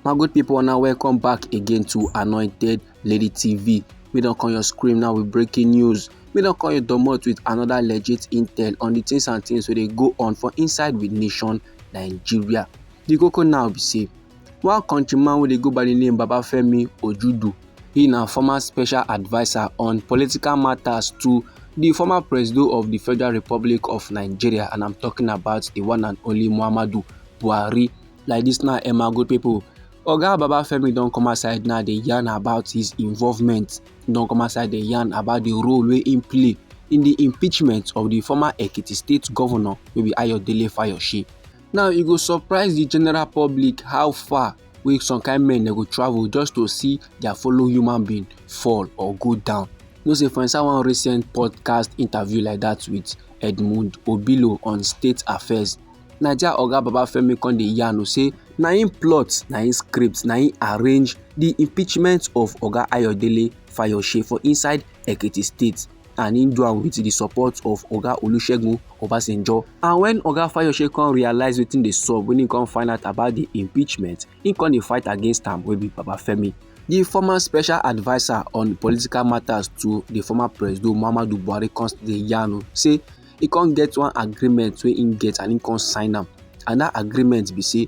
my good people una welcome back again to anointed lady tv we don come your screen now with breaking news we don come your domot with another legit intel on the things and things wey dey go on for inside with nation nigeria the koko now be say one countryman wey dey go by the name babafemi ojudu He na former special adviser on political matters to the former president of the Federal Republic of Nigeria and I'm talking about the one and only Muhammadu Buhari. Like this now, Emma good people. Oga Babafemi don come outside now dey yarn about his involvement, don come outside dey yarn about the role wey im play in the impeachment of the former Ekiti state governor wey be Ayodele Fayose. Now e go surprise the general public how far wey some kind men dem go travel just to see their fellow human being fall or go down you know say for inside one recent podcast interview like that with edmund obilo on state affairs naija oga babafemi come dey yarn say na im plot na im script na im arrange the impeachment of oga ayodele fayose for inside ekiti state and he do am with the support of oga olusegun obasanjo and when oga fayose come realize wetin dey sup when he come find out about the impeachment he come dey fight against am wey be babafemi the former special adviser on political matters to the former president muhammadu buhari come dey yarn o say he come get one agreement wey he get and he come sign am and that agreement be say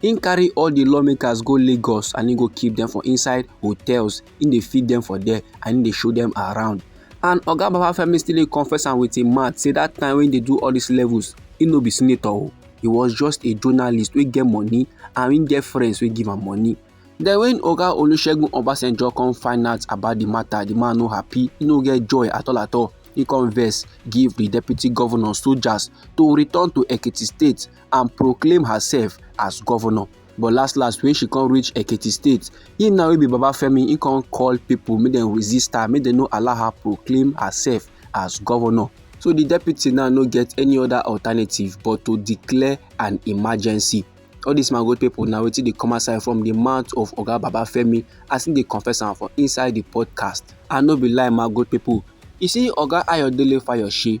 He carry all the lawmakers go lagos and he go keep them for inside hotels He dey feed them for there and he dey show them around and oga babafemi still dey confess am with him mouth say that time when he dey do all these levels he no be senator o he was just a journalist wey get money and he get friends wey give am money then when oga olusegun obasanjo come find out about the matter the man no happy he no get joy at all at all he come vex give the deputy governor soldiers to return to ekiti state and proclaim herself as governor but last last when she come reach ekiti state him now wey be babafemi he come call people make dem resist her make dem no allow her proclaim herself as governor so the deputy now no get any other alternative but to declare an emergency all these mango people now wetin dey come outside from the mouth of oga babafemi as him dey confess am for inside the podcast and no be lie mango people you see oga ayodele fayose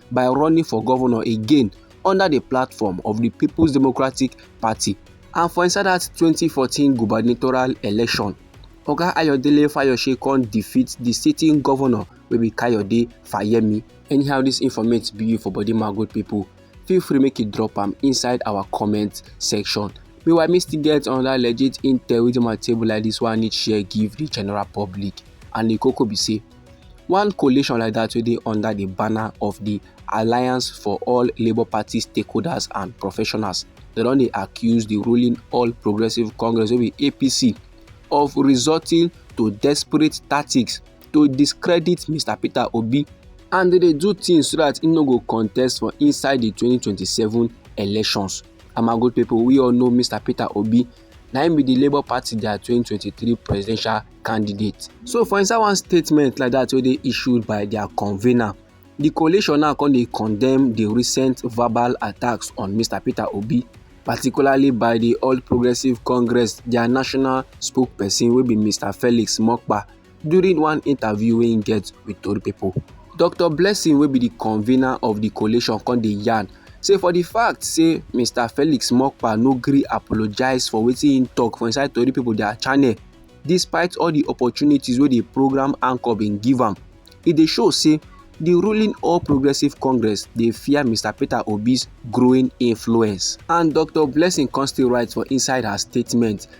by running for governor again under the platform of the People's Democratic Party and for inside that 2014 gubernatorial election. Oga Ayodele Fayose con defeat the sitting governor wey be Kayode Fayemi. Anyhow this informate be you for body my good people. Feel free make you drop am inside our comment section. Meanwhile, me still get another legit intel within my table like this one I need share give the general public and the koko be say One coalition like that wey dey under the banner of the Alliance for All Labour Party Stakeholders and Professionals, they don dey accuse the ruling All Progressive Congress wey be APC of resorting to desperate tactics to discredit Mr Peter Obi and they dey do things so that he no go contest for inside the 2027 elections. Amago people, we all know Mr Peter Obi na im be di labour party dia 2023 presidential candidate. so for inside one statement like dat wey dey issued by dia convener di coalition now come dey condemn di recent verbal attacks on mr peter obi particularly by di all progressives congress dia national spokesperson wey be mr felix mokpa. During one interview wey im get with tori pipo, Doctor Blessing wey be di convener of di coalition come dey yarn say for di fact say Mr Felix Mokpa no gree apologise for wetin im tok for inside tori pipo dia channel despite all di opportunities wey di programme anchor bin give am, e dey show say di ruling All Progressives Congress dey fear Mr Peter Obi's growing influence. And Doctor Blessing come still write for inside her statement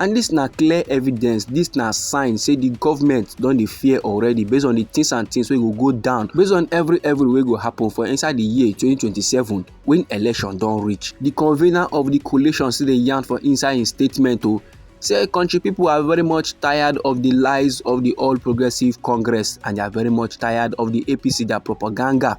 And dis na clear evidence, dis na sign say di government don dey fear already based on di things and things wey go go down, based on every every wey go happen for inside di year 2027 when election don reach. Di convener of di coalition still dey yarn for inside im statement o oh, say country people are very much tired of the lies of the All Progressive Congress and they are very much tired of the APC, their propaganda.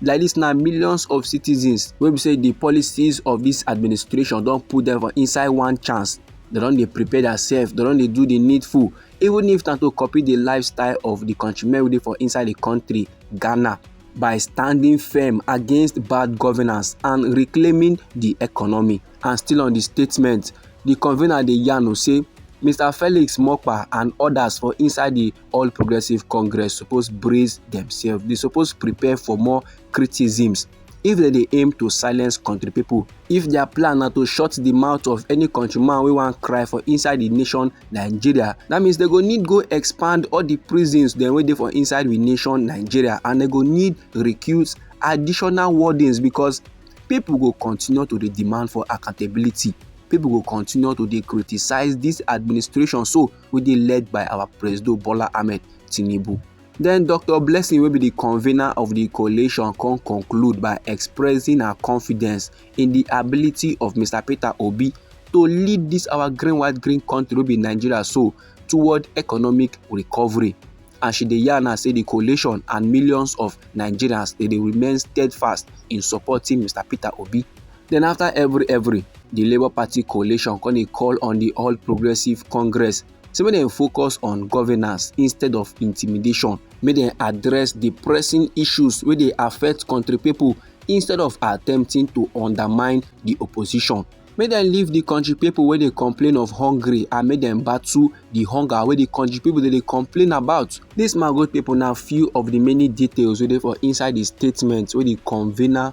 like this now millions of citizens wey be say the policies of this administration don put them for inside one chance they don dey prepare themselves they don dey do the needful even if na to copy the lifestyle of the countrymen wey dey for inside the country ghana by standing firm against bad governance and reclaiming the economy and still on the statement the convener dey yarn say mr felix mokpa and others for inside the all progressive congress suppose brace themselves they suppose prepare for more criticisms if they dey aim to silence country people if their plan na to shut the mouth of any countryman wey wan cry for inside the nation nigeria that means they go need go expand all the prisons dem wey dey for inside the nation nigeria and they go need recruit additional wardens because people go continue to dey demand for accountability people go continue to dey criticize this administration so wey dey led by our presido bola ahmed tinubu Then dr blessing wey be the convener of the coalition come conclude by expressing her confidence in the ability of mr peter obi to lead this our green white green country wey be nigeria so toward economic recovery and she dey yarn her say the coalition and millions of nigerians dey dey remain steadfast in supporting mr peter obi Then after every every, the Labour Party coalition come dey call on the All Progressive Congress say make dem focus on governance instead of intimidation, make dem address the pressing issues wey dey affect country people instead of attempting to undermine the opposition. Make dem leave the country people wey dey complain of hungry and make dem battle the hunger wey the country people dey dey complain about. This my good people na few of the many details wey dey for inside the statement wey the convener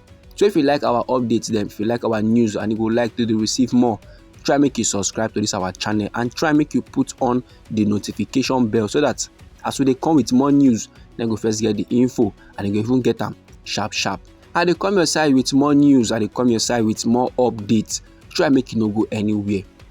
so if you like our updates then if you like our news and you would like to receive more try make you subscribe to this our channel and try make you put on the notification bell so that as we dey come with more news then go first get the info and you go even get them sharp sharp i dey come your side with more news i dey come your side with more updates try make you no go anywhere